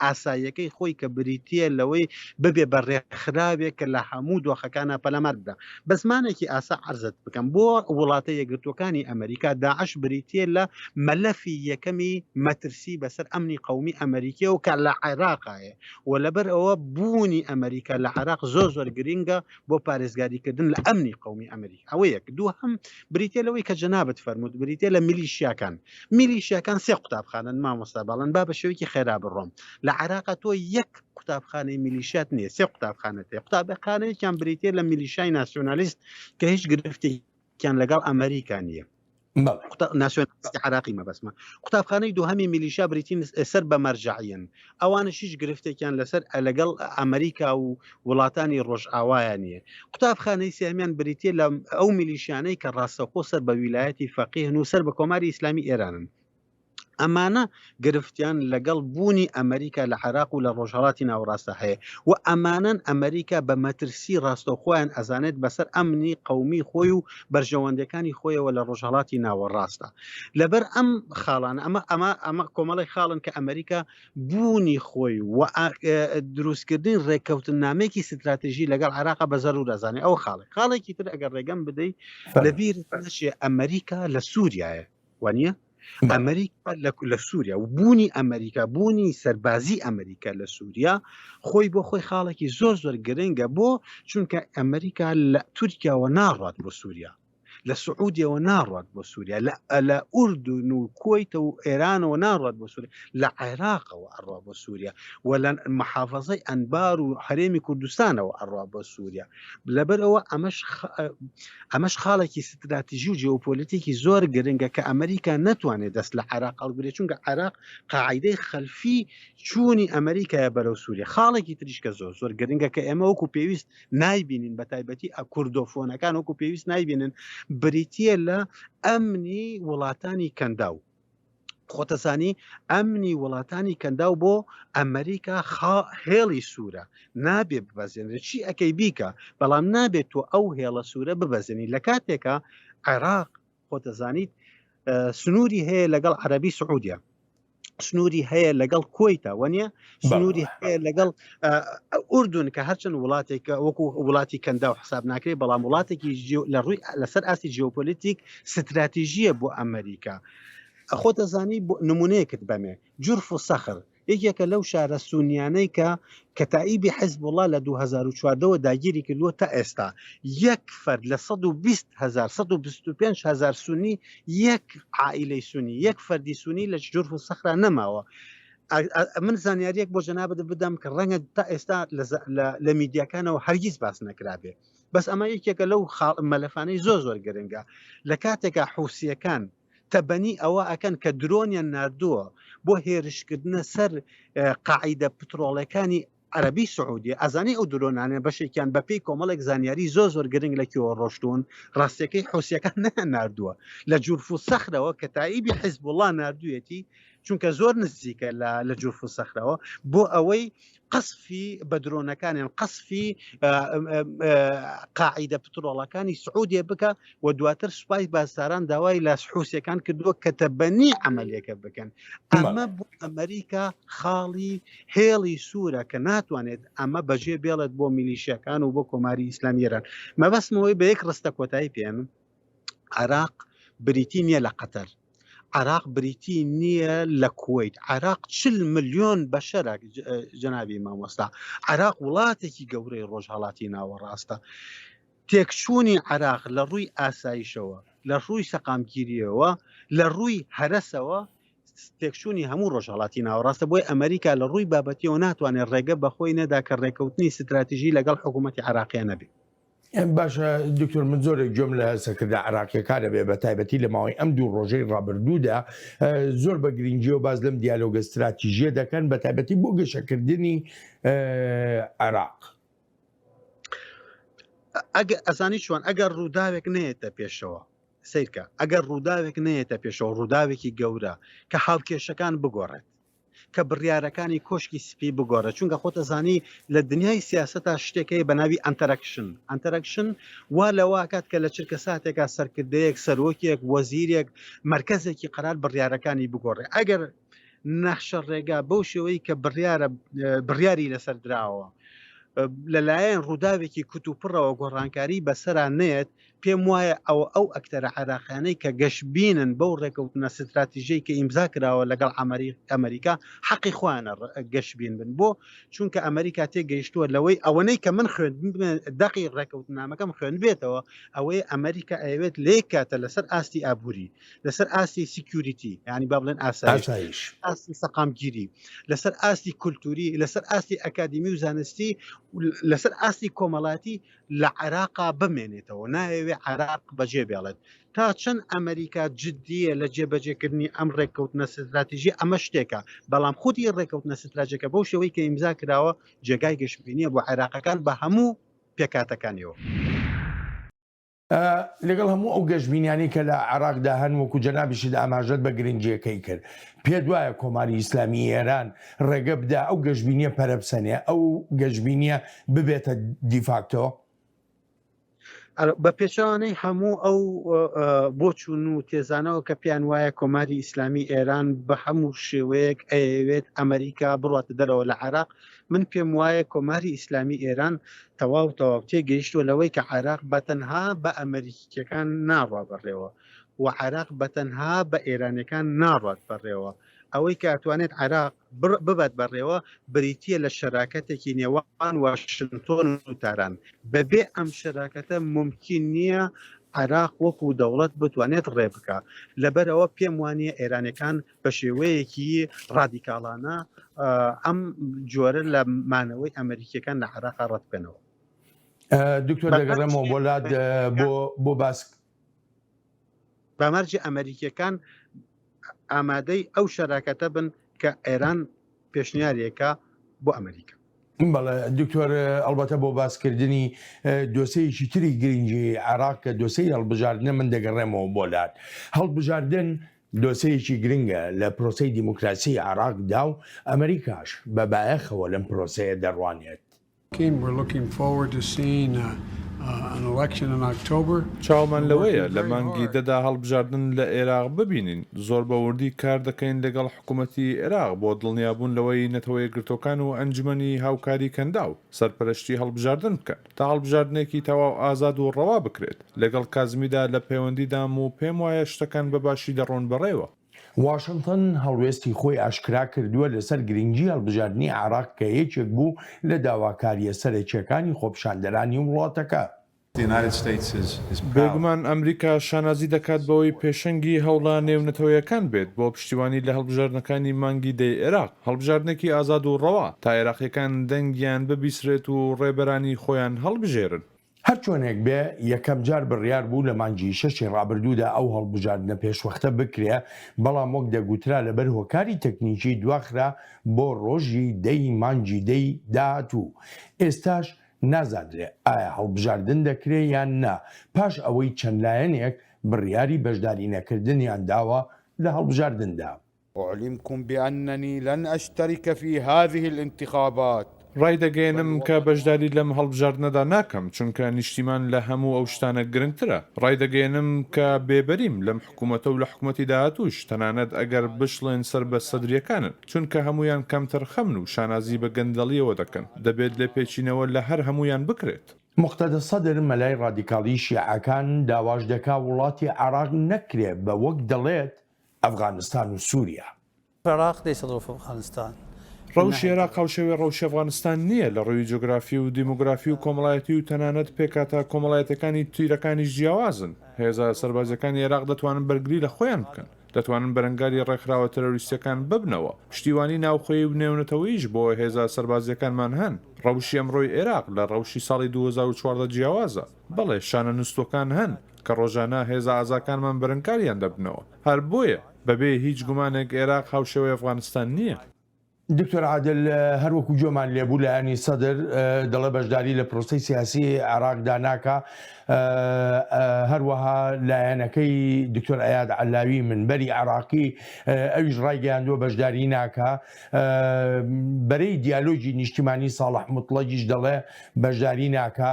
ئاساییەکەی خۆی کە بریتە لەوەی ببێ بە ڕێکخراوێک کە لە هەموو دۆخەکانە پەلەمار بدا بە زمانێکی ئاسا عرزت بکەم بۆ وڵاتە یەکگرتوەکانی ئەمریکا داعش بریتە لە مەلەفی یەکەمی مەترسی بەسەر ئەمنی قومی ئەمریکی و کە لە عێراقایە و لەبەر ئەوە بوونی ئەمریکا لە عێراق زۆر زۆر گرنگە بۆ پارێزگاریکردن لە ئەمنی قومی ئەمریکا ئەوەیەک دوو هەم بریتە لەوەی کە جەنابەت فەرمووت بریتە لە میلیشیاکان میلیشیاکان سێ قوتابخانەن مامۆستا بەڵند با بە شێوەیەکی خێرا بڕۆم لە عێراقا تۆ یەک قوتابخانەی میلیشیات نییە سێ قوتابخانەت هەیە قوتابخانەیەکیان بریتە لە میلیشای ناسیۆنالیست کە هیچ گرفتێکیان لەگەڵ ئەمریکا نییە ناسیۆنالیستی عراقی مەبەسمە قوتابخانەی دووهەمی میلیشیا بریتین سەر بە مەرجعەن ئەوانش هیچ گرفتێکیان لەسەر لەگەڵ ئەمریکا و وڵاتانی ڕۆژئاوایە نییە قوتابخانەی سێمیان بریتە لە ئەو میلیشیانەی کە ڕاستەخۆ سەر بە ویلایەتی فەقیهن و سەر بە کۆماری ئیسلامی ئێرانن ئەمانە گرفتیان لەگەڵ بوونی ئەمریکا لە عراق و لە ڕۆژهڵاتی ناوڕاستە هەیە و ئەمانەن ئەمریکا بە مەترسی ڕاستەخۆیان ئەزانێت بەسەر ئەمنی قومی خۆی و بەرژەوەندەکانی خۆیەوە لە ڕۆژهڵاتی ناوەڕاستە لەبەر ئەم خاڵانە ئەمە ئەمە ئەمە کۆمەڵی خاڵن کە ئەمریکا بوونی خۆی و دروستکردنی ڕێککەوتن نامێکی ستراتژی لەگەڵ عراق بە زەرور دەزانێت ئەو خاڵی خاڵێکی تر ئەگەر ڕێگەم بدەیت لەبیر نشێ ئەمریکا لە سووریایە وانە ئەمریکا لە سووریا و بوونی ئەمریکا بوونی سەربازی ئەمریکا لە سووریا خۆی بۆ خۆی خاڵێکی زۆر زۆر گرنگە بۆ چونکە ئەمریکا لە تورکیاوە ناڕات بۆ سووریا لە سعودیەوە ناڕات بۆ سووریا لە ئەلە ئوردون و کۆیتە و ئێرانەوە ناڕات بۆ سووریا لە عێراقەوە ئەڕا بۆ سووریا و لە محافظەی ئەنبار و هەرێمی کوردستانەوە ئەڕا بۆ سووریا لەبەرەوە ئەمەش ئەمەش خاڵێکی ستراتیژی و جیۆپۆلیتیکی زۆر گرنگە کە ئەمریکا ناتوانێت دەست لە عێراق هەڵگرێ چونکە عێراق قاعدەی خەلفی چوونی ئەمریکایە بەرەو سووریە خاڵێکی تریشکە زۆر زۆر گرنگە کە ئێمە وەکو پێویست نایبینین بە تایبەتی ئە کوردۆفۆنەکان وەکو پێویست نایبینن بریتە لە ئەمنی وڵاتانی کەنداو خۆتەسانی ئەمنی وڵاتانی کەنداو بۆ ئەمریکا خا هێڵی سوورە نابێ ببەزێنێت چی ئەەکەی بیکە بەڵام نابێت تۆ ئەو هێڵە سوورە ببەزێنی لە کاتێکە عێراق خۆ دەزانیت سنووری هەیە لەگەڵ عەربی سعودیا سنووری هەیە لەگەڵ کۆیتە وەنیە سنووری لەگەڵ ئوردون کە هەرچەند وڵاتێکە وەکو وڵاتی کەندا و حساب ناکرێت بەڵام وڵاتێکی لە ڕووی لەسەر ئاستی جیۆپۆلیتیک ستراتیژیە بۆ ئەمریکا خۆ دەزانی نمونەیەکت بەمێ جورف و سەخر یەکێکە لەو شارە سونیانەی کە کەتائیبی حیزبوڵا لە دوو هەزار و چواردە وە داگیری کردووە تا ئێستا یەک فەرد لە سەد و بیست هەزار سەد و بیست و پێنج هەزار سونی یەک عائیلەی سونی یەک فەردی سونی لە جورف و سەخرا نەماوە من زانیاریەک بۆ جەنابت بدەم کە ڕەنگە تا ئێستا لە میدیاکانەوە هەرگیز باس نەکرابێ بەس ئەمە یەکێکە لەو مەلەفانەی زۆر زۆر گرنگە لە کاتێکا حوسیەکان تەبەنی ئەوە ئەکەن کە درۆنیان ناردووە بۆ هێرشکردنە سەر قاعیدە پترۆڵەکانی عربی سعودی ئەزانی ئەو درۆنانە بەشێکیان بەپی کۆمەڵێک زانیاری زۆ زۆر گرنگ لە کیەوە ڕۆشتون ڕاستەکەی حوسەکان نە نردووە لە جورفو سەخرەوە کە تایبی حیزب وڵا نردویەتی چونکە زۆر نزیکە لە جورفو سەخرەوە بۆ ئەوەی قەسفی بە درۆنەکانیان قەسفی قاعیدە پترۆڵەکانی سعودێ بکە و دواتر سوپای بازساران داوای لە حوسەکان کردووە کە تەبەنی عملەکە بکەن ئەمە بۆ ئەمریکا خاڵی هێڵی سوورە کە ناتوانێت ئەمە بەجێ بێڵێت بۆ میلیشەکان و بۆ کۆماری ئیسلامیێران مەبەستمەوەی بە یەک ڕستە کۆتایی پێێنم عێراق بریتی نیە لە قەتەر عێراق بریتی نیە لە کوەیت عێراق چل ملیۆن بەشەرە جەنابی مامۆستا عێراق وڵاتێکی گەورەی ڕۆژهڵاتی ناوەڕاستە تێکچوونی عراق لە ڕووی ئاسایشەوە لە ڕووی سەقامگیریەوە لە ڕووی هەرسەوە تێکچوونی هەموو ڕۆژهڵاتی ناوەڕاستە بۆی ئەمریکا لە ڕووی بابەتیەوە ناتوانێت ڕێگە بەخۆی نەدا کە ڕێککەوتنی ستراتیژی لەگەڵ حکوومەتتی عراقیە نەبێت باشە دکتۆر من زۆرێک گوێم لە سەرکردە عراقیەکانە بێ بە تایبەتی لە ماوەی ئەم دوو ڕۆژەی ڕابردوودا زۆر بە گرنگجی و باز لەم دیالۆگە استراتیژیە دەکەن بە تایبەتی بۆ گەشەکردنی عراق. ئەگە ئەزانی چۆن ئەگەر ڕووداوێک نێتە پێشەوە سیرکە ئەگەر ڕووداوێک نێتە پێشەوە ڕووداوێکی گەورە کە هاوکێشەکان بگۆڕێت کە بڕیارەکانی کۆشکی سپی بگۆرە چونکە خۆتە زانی لە دنیای سیاست تا شتێکەی بە ناوی ئەتەرەکشن ئەتەرەکشن وا لەواکات کە لە چرکە ساتێکا سەرکردەیەک سەرۆکێک وەزیرێک مرکزێکی قرار بڕیارەکانی بگۆڕێ ئەگەر نەخشە ڕێگا بەو شێوەی کە بڕیارە بڕیاری لەسەر دراوە لەلایەن ڕووداوێکی کوتوپڕەوە گۆڕانکاری بەسەران نێت پێم وایە ئەوە ئەو ئەکتەرە عێراقیانەی کە گەشبینن بەو ڕێکەوتنە ستراتیژیەی کە ئیمزا کراوە لەگەڵ ئەمەریکا حەقی خۆیانە گەشبین بن بۆ چونکە ئەمەریکا تێ گەیشتووە لەوەی ئەوەنەی کە من خوێن دەقی ڕێکەوتنامەکەم خوێن بێتەوە ئەوەی ئەمەریکا ئەوێت لێک کاتە لەسەر ئاستی ئابووری لەسەر ئاستی سیکیوریتی ینی با بڵێن ئاسایش ئاستی سەقامگیری لەسەر ئاستی کولتوری لەسەر ئاستی ئەکادمی و زانستی لەسەر ئاستی کۆمەڵاتی لە عێراقا بمێنێتەوە نایەوێت عێراق بەجێ بێڵێت تا چەن ئەمەریکا جدیە لە جێ بەجێکردنی ئەم ڕێککەوتنە ستراتیژی ئەمە شتێکە بەڵام خودی ڕێککەوتنە ستراجەکە بەو شێوەی کە ئیمزا کراوە جێگای گەشبینیە بۆ عێراقەکان بە هەموو پێکاتەکانیەوە. لەگەڵ هەموو ئەو گەشبینیانەی کە لە عێراقدا هەن وەکو جەنابیشت ئاماژەت بە گرنگیەکەی کرد پێت وایە کۆماری ئیسلامی ئێران ڕێگە بدا ئەو گەشبینیە پەرەبسەنێ ئەو گەشبینیە ببێتە دیفاکتۆ؟ بە پێچوانەی هەموو ئەو بۆچون و تێزانەوە کە پێیان وایە کۆماری ئیسلامی ئێران بە هەموو شێوەیەک ئەیەوێت ئەمریکا بڕاتە دەرەوە لە عراق من پێم وایە کۆماری ئیسلامی ئێران تەواو تەواو تێگەیشتوە لەوەی کە عراق بە تەنها بە ئەمریکیەکان ناڕوا بڕێەوە و عێراق بەتەنها بە ئێرانیەکان ناڕات بەڕێوە، ئەوەی کە ئەتوانێت عێراق ببات بەڕێوە بریتیە لە شەراکەتێکی نێوان واشنتۆن و تاران، بەبێ ئەم شەراکەتە مومکین نیە عێراق وەکو دەوڵەت بتوانێت ڕێبکا، لەبەرئەوە پێم وانیە ئێرانیەکان بە شێوەیەکی ڕادیکاڵانە ئەم جۆرە لە مانەوەی ئەمەریکیەکان لە عێراقا ڕەتبکەنەوە. دکتۆر دەگەڕێمەوە بۆ لات بۆ بۆ باسک. بەمەرجی ئەمەریکیەکان ئامادەی ئەو شەراکەتە بن کە ئێران پێشنیارێکە بۆ ئەمەریکا. بەڵێ دکتۆر ئەڵبەتە بۆ باسکردنی دۆسەیەکی تری گرنگی عێراق کە دۆسەی هەڵبژاردنە من دەگەڕێمەوە بۆ لات هەڵبژاردن دۆسەیەکی گرنگە لە پرۆسی دیموکراسی عێراقدا و ئەمریکاش بە بایەخەوە لەم پرۆسەیە دەڕوانێت. چاومان لەوەیە لە مانگی دەدا هەڵبژاردن لە ئێراق ببینین. زۆر بە وردی کار دەکەین لەگەڵ حکومەتی ئێراق بۆ دڵنیابوون لەوەی نەتەوە یەکگرتووەکان و ئەنجومەنی هاوکاری کەنداو سەرپەرشتی هەڵبژاردن بکەن تا هەڵبژاردنێکی تەواو ئازاد و ڕەوا بکرێت. لەگەڵ کازمیدا لە پەیوەندیدام و پێموایە شتەکان بە باشی دەڕۆن بەڕێوە. واشنتن هەڵوێستی خۆی ئاشکرا کردووە لەسەر گرنگی هەڵبژاردنی عێراق کە یەکێک بوو لە داواکارییە سەرەکییەکانی خۆپیشاندەرانی وڵاتەکە. بێگومان ئەمریکا شانازی دەکات بەوەی پێشەنگی هەوڵە نێونەتەوەیەکان بێت بۆ پشتیوانی لە هەڵبژاردنەکانی مانگی دەی عێراق، هەڵبژاردنێکی ئازاد و ڕەوا، تا عێراقییەکان دەنگیان ببیسرێت و ڕێبەرانی خۆیان هەڵبژێرن. هەرچۆنێک بێ یەکەم جار بڕیار بوو لە مانگی شەشی ڕابردوودا ئەو هەڵبژاردنە پێشوەختە بکرێ، بەڵام وەک دەگوترا لەبەر هۆکاری تەکنیکی دواخرا بۆ ڕۆژی دە ی مانگی دە ی داهاتوو، ئێستاش نازانرێ ئایا هەڵبژاردن دەکرێ یان نا، پاش ئەوەی چەند لایەنێک بڕیاری بەشدارینەکردنیان داوە لە هەڵبژاردندا. اعلمکم باننی لن اشترک فی هذه الانتخابات. ڕایدەگەیەنم کە بەشداری لەم هەڵبژاردنەدا ناکەم، چونکە نیشتیمان لە هەموو ئەو شتانە گرنگترە. ڕایدەگەیەنم کە بێبەریم لەم حکومەتە و لە حکومەتی داهاتووش، تەنانەت ئەگەر بشڵێن سەر بە سەدرییەکانن، چونکە هەموویان کەمتەرخەمن و شانازی بە گەندەڵییەوە دەکەن. دەبێت لێپێچینەوە لە هەر هەموویان بکرێت. موقتەدا سەدر، مەلای ڕادیکاڵی شیعەکان، داواش دەکات وڵاتی عێراق نەکرێت بە وەک دەڵێت، ئەفغانستان و سوریا. عێراق لەیسە ظروف ئەفغانستان. ڕەوشی عێراق هاوشێوەی ڕەوشی ئەفغانستان نییە لە ڕێوی جۆگرافی و دیمۆگرافی و کۆمەڵایەتی و تەنانەت پێکهاتە کۆمەڵایەتیەکانی تیرەکانیش جیاوازن هێزە سەربازیەکانی عێراق دەتوانن بەرگری لە خۆیان بکەن دەتوانن بەرەنگاری ڕێکخراوە ترۆریستیەکان ببنەوە پشتیوانی ناوخۆیی و نێونەتەوەیش بۆ هێزە سەربازیەکانمان هەن ڕەوشی ئەمڕۆی عێراق لە ڕەوشی ساڵی دوو هەزار و چواردە جیاوازە بەڵێ شانە نوستوەکان هەن کە ڕۆژانە هێزە ئازاکانمان بەرەنگاریان دەبنەوە، هەر بۆیە بەبێ هیچ گومانێک ئێراق هاوشێوەی ئەفغانستان نییە. دکتۆر عادل، هەر وەکو گوێمان لێبوو لایەنی سەدر دەڵێ بەشداری لە پرۆسەی سیاسی عێراقدا ناکا، هەروەها لایەنەکەی دکتۆر ئەیاد عەلاوی منبەری عێراقی ئەویش ڕایگەیاندووە بەشداری ناکا، بەرەی دیالۆگی نیشتیمانی ساڵح موتڵەگیش دەڵێ بەشداری ناکا،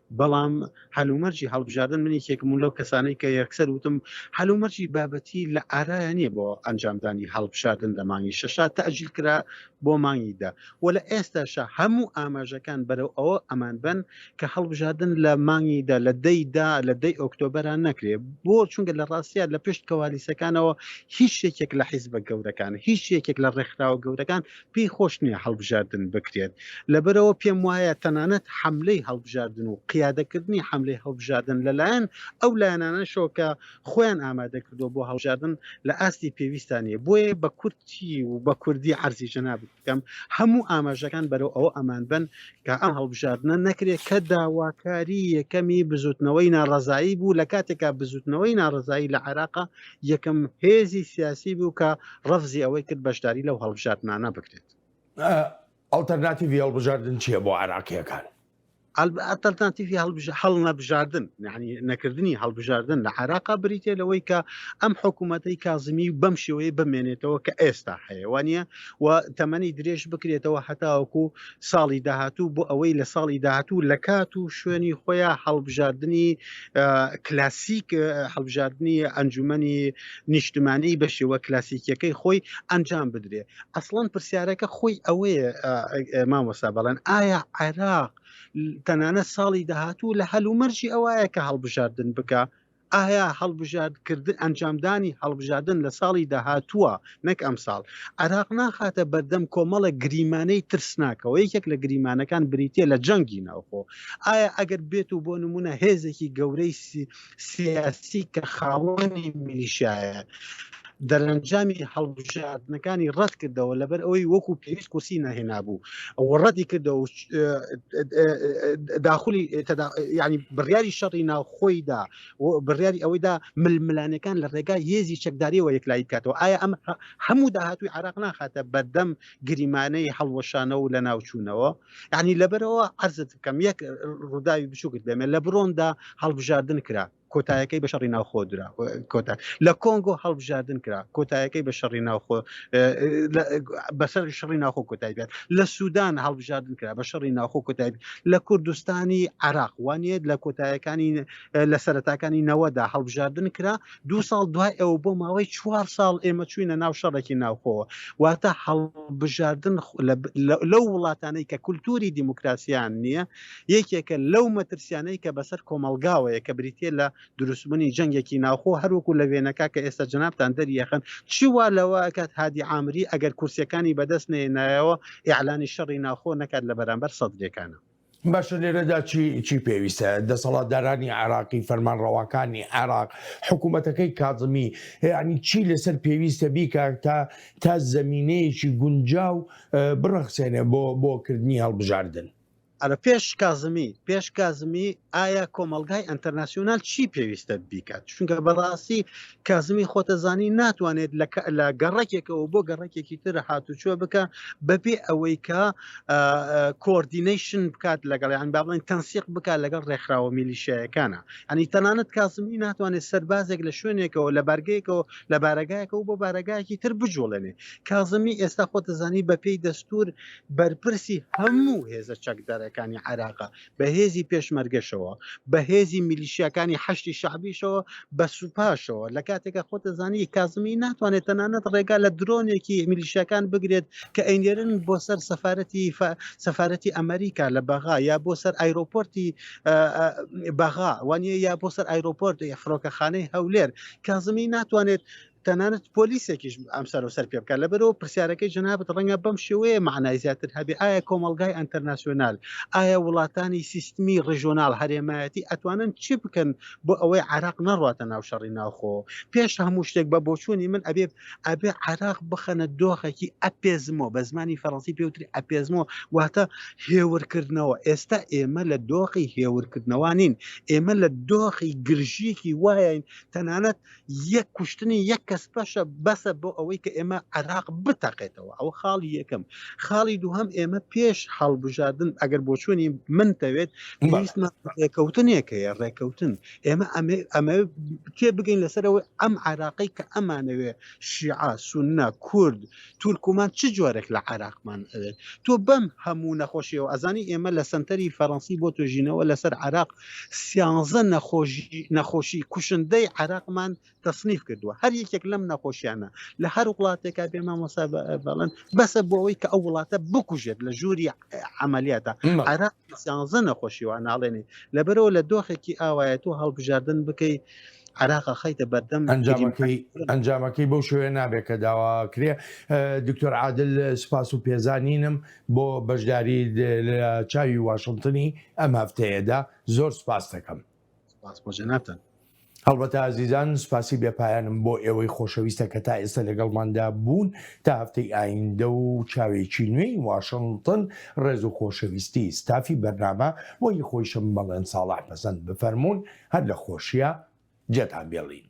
بەڵام هەلومەرجی هەڵبژاردن من یەکێکم بووم لەو کەسانەی کە یەکسەر وتم هەلومەرجی بابەتی لە ئارایە نییە بۆ ئەنجامدانی هەڵبژاردن لە مانگی شەشا تەئجیل کرا بۆ مانگی دە و لە ئێستاشا هەموو ئاماژەکان بەرەو ئەوە ئەمان بەن کە هەڵبژاردن لە مانگی دە لە دەی دا لە دەی ئۆکتۆبەران نەکرێ بۆ چونکە لە ڕاستیا لە پشت کەوالیسەکانەوە هیچ یەکێک لە حیزبە گەورەکان هیچ یەکێک لە ڕێکخراوە گەورەکان پێی خۆش نییە هەڵبژاردن بکرێت، لەبەرئەوە پێم وایە تەنانەت حەملەی هەڵبژاردن و قیادەکردنی حەملەی هەڵبژاردن لەلایەن ئەو لایەنانەشەوە کە خۆیان ئامادەکردووە بۆ هەڵبژاردن لە ئاستی پێویستدا نییە، بۆیە بە کورتی و بە کوردی عەرزی جەنابت بکەم هەموو ئاماژەکان بەرەو ئەوە ئەمان بن کە ئەم هەڵبژاردنە نەکرێت کە داواکاری یەکەمی بزووتنەوەی ناڕەزایی بوو لە کاتێکا بزووتنەوەی ناڕەزایی لە عێراق یەکەم هێزی سیاسی بوو کە ڕفزی ئەوەی کرد بەشداری لەو هەڵبژاردنانە بکرێت ئەڵتەرناتیڤی هەڵبژاردن چییە بۆ عراقیەکان ئەتەلتانتیفی هەڵ نەبژاردن یعنی نەکردنی هەڵبژاردن لە عراقا بریتێ لەوەی کە ئەم حکوومەتەی کازمی بەم شێوەیە بمێنێتەوە کە ئێستا هەیەوانە و تەمەنی درێژ بکرێتەوە هەتاوەکو ساڵی داهاتوو بۆ ئەوەی لە ساڵی داهاتوو لە کات و شوێنی خۆیان هەڵبژاردننی کلاسیک هەڵبژاردننی ئەنجومی نیشتمانی بە شێوە کلاسیکیەکەی خۆی ئەنجام بدرێ ئەسڵەن پرسیارەکە خۆی ئەوەیە مامۆسا بەڵێن ئایا عێراق تەنانە ساڵی داهاتوو لە هەلومەرجی ئەوەیە کە هەڵبژاردن بکە ئایا هەڵبژاردکردن ئەنجامدانی هەڵبژاردن لە ساڵی داهاتووە نەک ئەمساڵ عراق ناخاتە بەردەم کۆمەڵە گریمانەی ترسناکەوە یەکێک لە گریمانەکان بریتە لە جەنگی ناوخۆ ئایا ئەگەر بێت و بۆ نمونە هێزێکی گەورەی سیاسی کە خاوەنی میلیشایە دەرەنجامی هەڵبژاردنەکانی ڕەت کردەوە لەبەر ئەوەی وەکو پێویست کورسی نەهێنا بوو وڕەتی کردەوە داخلی ینی بڕیاری شەڕی ناوخۆیدا و بڕیاری ئەوەیدا ململانێکان لە ڕێگای هێزی چەکداریەوە یەکلایی بکاتەوە ئایا ئەم هەموو داهاتوی عراق ناخاتە بەردەم گریمانەی هەڵوەشانە و لە ناوچوونەوە ینی لەبەرەوە عرزت بکەم یەک ڕووداوی بچووکت دەمێت لە بڕۆندا هەڵبژاردن کرا کۆتایەکەی بە شەڕی ناوخۆ درا کۆتا لە کۆنگۆ هەڵبژاردن کرا کۆتایەکەی بە شەڕی ناوخۆ بەسەر شەڕی ناوخۆ کۆتای بێت لە سوودان هەڵبژاردن کرا بە شەڕی ناوخۆ کۆتای لە کوردستانی عراق وانێت لە کۆتایەکانی لە سەرتاکانی نەوەدا هەڵبژاردن کرا دو ساڵ دوای ئەو بۆ ماوەی چوار ساڵ ئێمە چوینە ناو شەڕێکی ناوخۆوە واتە هەڵبژاردن لەو وڵاتانەی کە کولتوری دیموکراسیان نییە یەکێکە لەو مەترسیانەی کە بەسەر کۆمەلگاوەیە کە بریتە لە دروستبوونی جەنگێکی ناوخۆ هەروەکو لە وێنەکە کە ئێستا جنابان دەریەخن چیوا لەوە کات هادی ئامری ئەگەر کورسەکانی بەدەست نێنایەوە ئیعلانی شەڕی ناوخۆ نەکات لە بەرامبەر سەدرەکانە باشە لێرەدا چی چی پێویستە دەسەڵاتدارانی عراقی فەرمانڕەواکانی عراق حکوومەتەکەی کازمی یعنی چی لەسەر پێویستە بیکە تا تا زمینەیەکی گونجاو بڕەخسێنێ بۆ بۆکردنی هەڵبژاردن ئەرە پێش کازمی پێش کازمی ئایا کۆمەلگای ئەتەرناسیۆنال چی پێویستە بیکات چونکە بەڕاستی کازمی خۆتەزانی ناتوانێت لە گەڕەکێکەوە بۆ گەڕەکێکی تر هاتوچۆ بکە بەپێ ئەوەی کە کۆردینەیشن بکات لەگەڵیان با بڵێن تەنسیق بکات لەگەڵ ڕێکخراوە میلیشایەکانە ئەنی تەنانەت کازمی ناتوانێت سەربازێک لە شوێنێکەوە لە بارگەیەکەوە لە بارەگایەکەەوە بۆ بارەگایەکی تر بجوڵێنێ کازمی ئێستا خۆتەزانی بەپێی دەستور بەرپرسی هەموو هێزە چەکدارەکانی عراقا بە هێزی پێشمەرگەشەوە، بە هێزی میلیشیاکانی حەشدی شەعبیشەوە، بە سوپاشەوە، لە کاتێکا خۆت دەزانی کازمی ناتوانێت تەنانەت ڕێگا لە درۆنێکی میلیشیاکان بگرێت کە ئەینێرن بۆ سەر سەفارەتی سەفارەتی ئەمریکا لە بەغا یا بۆ سەر ئایرۆپۆرتی بەغا وانە یا بۆ سەر ئایرۆپۆرت فڕۆکەخانەی هەولێر کازمی ناتوانێت تەنانەت پۆلیسێکیش ئەم سەر و سەر پێ بکات لەبەرەوە پرسیارەکەی جنابەت ڕەنگە بەم شێوەیە معنای زیاتر هەبێ ئایا کۆمەلگای ئەتەرناسیۆنال ئایا وڵاتانی سیستمی ڕژۆنال هەرێمایەتی ئەتوانن چی بکەن بۆ ئەوەی عراق نەڕاتە ناو شەڕی ناوخۆ پێش هەموو شتێک بە بۆچوونی من ئەبێ ئەبێ عراق بخەنە دۆخێکی ئەپێزمەوە بە زمانی فەڕەنسی پێوتری ئەپێزمەوە واتە هێورکردنەوە ئێستا ئێمە لە دۆخی هێورکردنەوانین ئێمە لە دۆخی گرژیکی وایین تەنانەت یەک کوشتنی یەک کەس پەشە بەسە بۆ ئەوەی کە ئێمە عراق بتەقێتەوە ئەوە خاڵی یەکەم خاڵی دووهم ئێمە پێش هەڵبژاردن ئەگەر بۆ چۆنی من تەوێت پێویستمان ڕێکەوتنێک هەیە ڕێکەوتن ئێمە ئەمە تێ بگەین لەسەرەوەی ئەم عراقی کە ئەمانەوێ شیعە سونە کورد تورکمان چ جۆرێک لە عێراقمان ئەوێت تۆ بەم هەموو نەخۆشیەوە ئەزانی ئێمە لە سەنتەری فەرەنسی بۆ توێژینەوە لەسەر عراق سیانزە نەخۆشی نەخۆشی کوشندەی عراقمان تەسنیف کردووە هەر یەکێک لەم نەخۆشیانە لە هەر وڵاتێکا بێ مامۆسا بەڵن بەسە بۆ ئەوەی کە ئەو وڵاتە بکوژێت لە ژووری عملیاتە عراق سیانزە نەخۆشی وا ناڵێنی لەبەرەوە لە دۆخێکی ئاوایە تۆ هەڵبژاردن بکەی عراقە خەیتە بەردەم ئەنجامەکەی ئەنجامەکەی بەو شوێ نابێت کە داواکرێ دکتۆر عادل سپاس و پێزانینم بۆ بەشداری لە چاوی واشنتنی ئەم هەفتەیەدا زۆر سپاس دەکەم سپاس بۆ جەنابتان هەڵبەتە ئازیزان سوپاسی بێپایانم بۆ ئێوەی خۆشەویستە کە تا ئێستا لەگەڵماندا بوون تا هەفتەی ئایندە و چاوێکی نوێی واشنتن ڕێز و خۆشەویستی ستافی بەرنامە بۆی خۆیشم بەڵێن ساڵح پەسەند بفەرمونون هەر لە خۆشیە جێتان بێڵین.